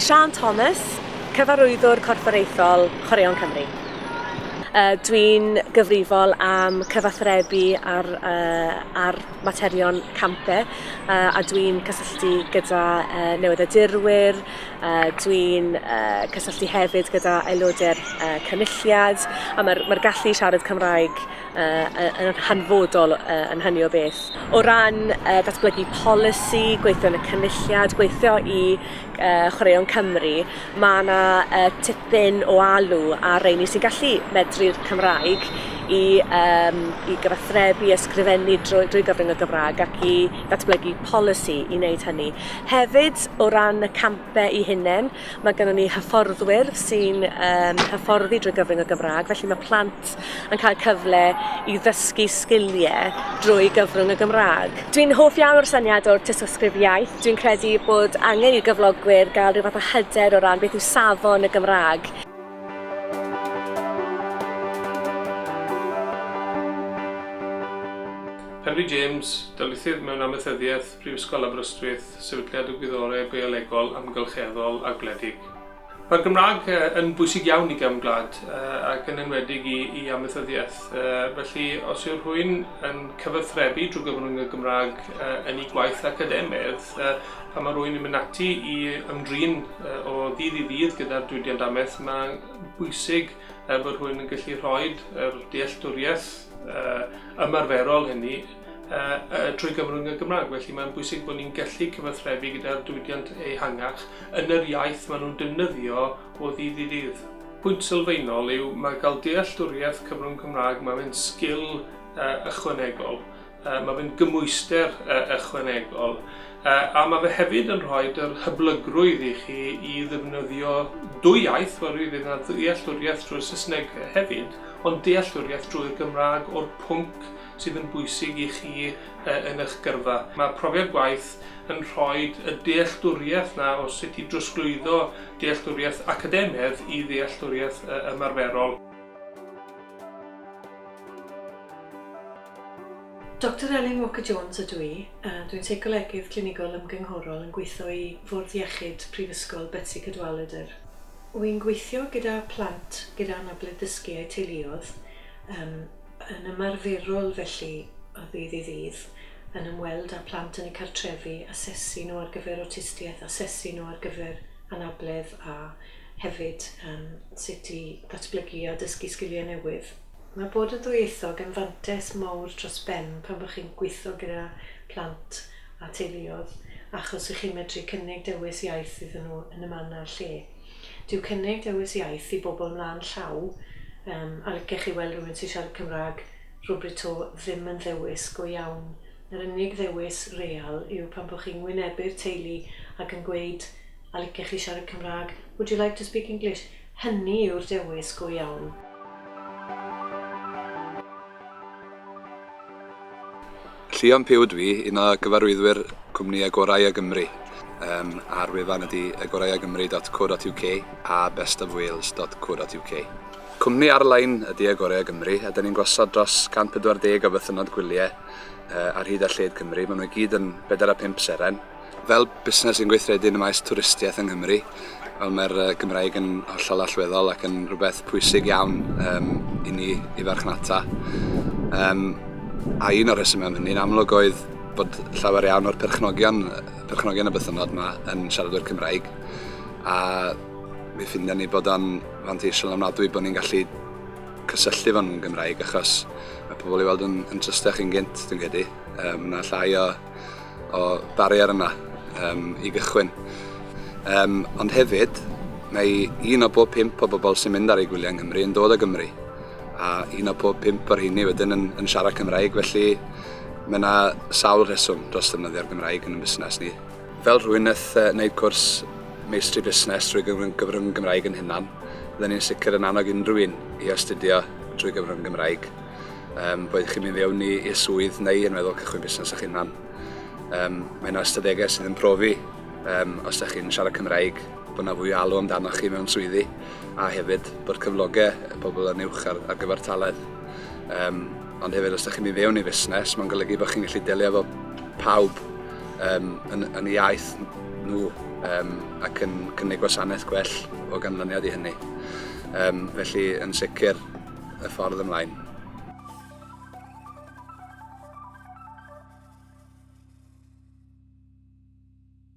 Siân Thomas, Cyfarwyddwr Corfforaethol Chwaraeon Cymru. Uh, Dwi'n gyfrifol am cyfathrebu ar, uh, ar materion campe uh, a dwi'n cysylltu gyda uh, newyddiadurwyr, Yy dwi'n yy cysylltu hefyd gyda aelodau'r yy cynulliad a ma'r ma'r gallu i siarad Cymraeg yy yy yn hanfodol yy yn hynny o beth. O ran yy datblygu polisi, gweithio yn y cynulliad, gweithio i yy Chwaraeon Cymru, ma' 'na yy tipyn o alw ar reini sy'n gallu medru'r Cymraeg i yym i gyfathrebu, ysgrifennu drwy drwy gyfrwng y Gymra'g ac i ddatblygu polisi i neud hynny. Hefyd, o ran y campau i hunain, mae gennym ni hyfforddwyr sy'n um, hyfforddi drwy gyfrwng y Gymraeg, felly mae plant yn cael cyfle i ddysgu sgiliau drwy gyfrwng y Gymraeg. Dwi'n hoff iawn o'r syniad o'r tystysgrif iaith. Dwi'n credu bod angen i'r gyflogwyr gael rhyw fath o hyder o ran beth yw safon y Gymraeg. Henry James, darlithydd mewn amaethyddiaeth Prifysgol Aberystwyth, Sefydliad y Gwyddorau Biolegol, Amgylcheddol a Gwledig. Mae'r Gymraeg yn bwysig iawn i gefn gwlad ac yn enwedig i, i amaethyddiaeth. Felly, os yw rhywun yn cyfathrebu drwy gyfrwng y Gymraeg yn ei gwaith academaidd, pan mae rhywun yn mynd ati i ymdrin o ddydd i ddydd gyda'r diwydiant amaeth, mae'n bwysig bod rhywun yn gallu rhoi yr dealltwriaeth ymarferol hynny trwy gyfrwng y Gymraeg. Felly mae'n bwysig bod ni'n gallu cyfathrebu gyda'r diwydiant ehangach yn yr iaith maen nhw'n defnyddio o ddydd i ddydd. Pwynt sylfaenol yw mae cael dealltwriaeth cyfrwng Cymraeg, mae fe'n sgil ychwanegol, mae fe'n gymwyster ychwanegol, a mae fe hefyd yn rhoi yr hyblygrwydd i chi i ddefnyddio dwy iaith, fel rwy'n dweud, ddealltwriaeth drwy'r Saesneg hefyd, ond dealltwriaeth drwy'r Gymraeg o'r pwnc sydd yn bwysig i chi yn eich gyrfa. Mae profiad gwaith yn rhoi y dealltwriaeth na o sut i drosglwyddo dealltwriaeth academaidd i ddealltwriaeth ymarferol. Doctor Elin Walker Jones ydw i, a dwi'n Seicolegydd Clinigol Ymgynghorol yn gweithio i Fwrdd Iechyd Prifysgol Betsi Cadwaladr. Wy'n gweithio gyda plant gyda anabledd dysgu a'u teuluoedd, Yn ymarferol felly, o ddydd i ddydd, yn ymweld â phlant yn eu cartrefi, asesu nhw ar gyfer awtistiaeth, asesu nhw ar gyfer anabledd a hefyd yym sut i ddatblygu a dysgu sgiliau newydd. Mae bod yn ddwyieithog yn fantais mawr dros ben pan bo chi'n gweithio gyda plant a teuluoedd achos 'y chi'n medru cynnig dewis iaith iddyn nhw yn y man a'r lle. Dyw cynnig dewis iaith i bobl mlaen llaw, yym, a licech chi weld rhywun sy'n siarad Cymraeg rywbryd 'to, ddim yn ddewis go iawn. Yr unig ddewis real yw pan bo chi'n wynebu'r teulu ac yn gweud 'a licech chi siarad Cymraeg, would you like to speak English? Hynny yw'r dewis go iawn. Llion Puw ydw i, un o gyfarwyddwyr cwmni Agoraea Gymru. Yym, a'r wefan ydy agoraeagymru.co.uk a bestofwales.co.uk. Cwmni ar-lein ydy Agoraea Gymru, a dyn ni'n gosod dros 140 o fythynnod gwyliau ar hyd a lled Cymru. Maen nhw i gyd yn bedair a phump seren. Fel busnes sy'n gweithredu yn y maes twristiaeth yng Nghymru, wel mae'r Gymraeg yn hollol allweddol ac yn rhywbeth pwysig iawn um, i ni i farchnata. Um, a un o'r rhesymau am hynny'n amlwg oedd bod llawer iawn o'r perchnogion, perchnogion y bythynnod yma yn siaradwyr Cymraeg. A mi ffindio ni bod o'n fanteisiol amnadwy bod ni'n gallu cysylltu fan nhw'n Gymraeg achos mae pobl i weld yn, yn trystach yn gynt, dwi'n credu. Um, mae llai o o barier yna um, i gychwyn. Um, ond hefyd, mae un o bob pimp o bobl sy'n mynd ar ei gwyliau yng Nghymru yn dod o Gymru. A un o pob pimp o'r hynny wedyn yn, yn siarad Cymraeg, felly mae yna sawl rheswm dros ddefnyddio'r Gymraeg yn y busnes ni. Fel rhywun nath uh, wneud cwrs meistri busnes drwy gyfrwng Gymraeg yn hunan, byddwn ni'n sicr yn annog unrhyw un i astudio drwy gyfrwng Gymraeg. Um, boed chi'n mynd fewn i'r swydd neu yn meddwl cychwyn busnes eich hunan. Um, mae yna ystadegau sydd yn profi um, os ydych chi'n siarad Cymraeg bod yna fwy o alw amdanoch chi mewn swyddi a hefyd bod cyflogau y pobl yn uwch ar, ar gyfer talaeth. Um, ond hefyd os ydych chi'n mynd fewn i fusnes mae'n golygu bod chi'n gallu delio efo pawb um, yn, yn y iaith nhw um, ac yn cynnig gwasanaeth gwell o ganlyniad i hynny. Um, felly yn sicr y ffordd ymlaen.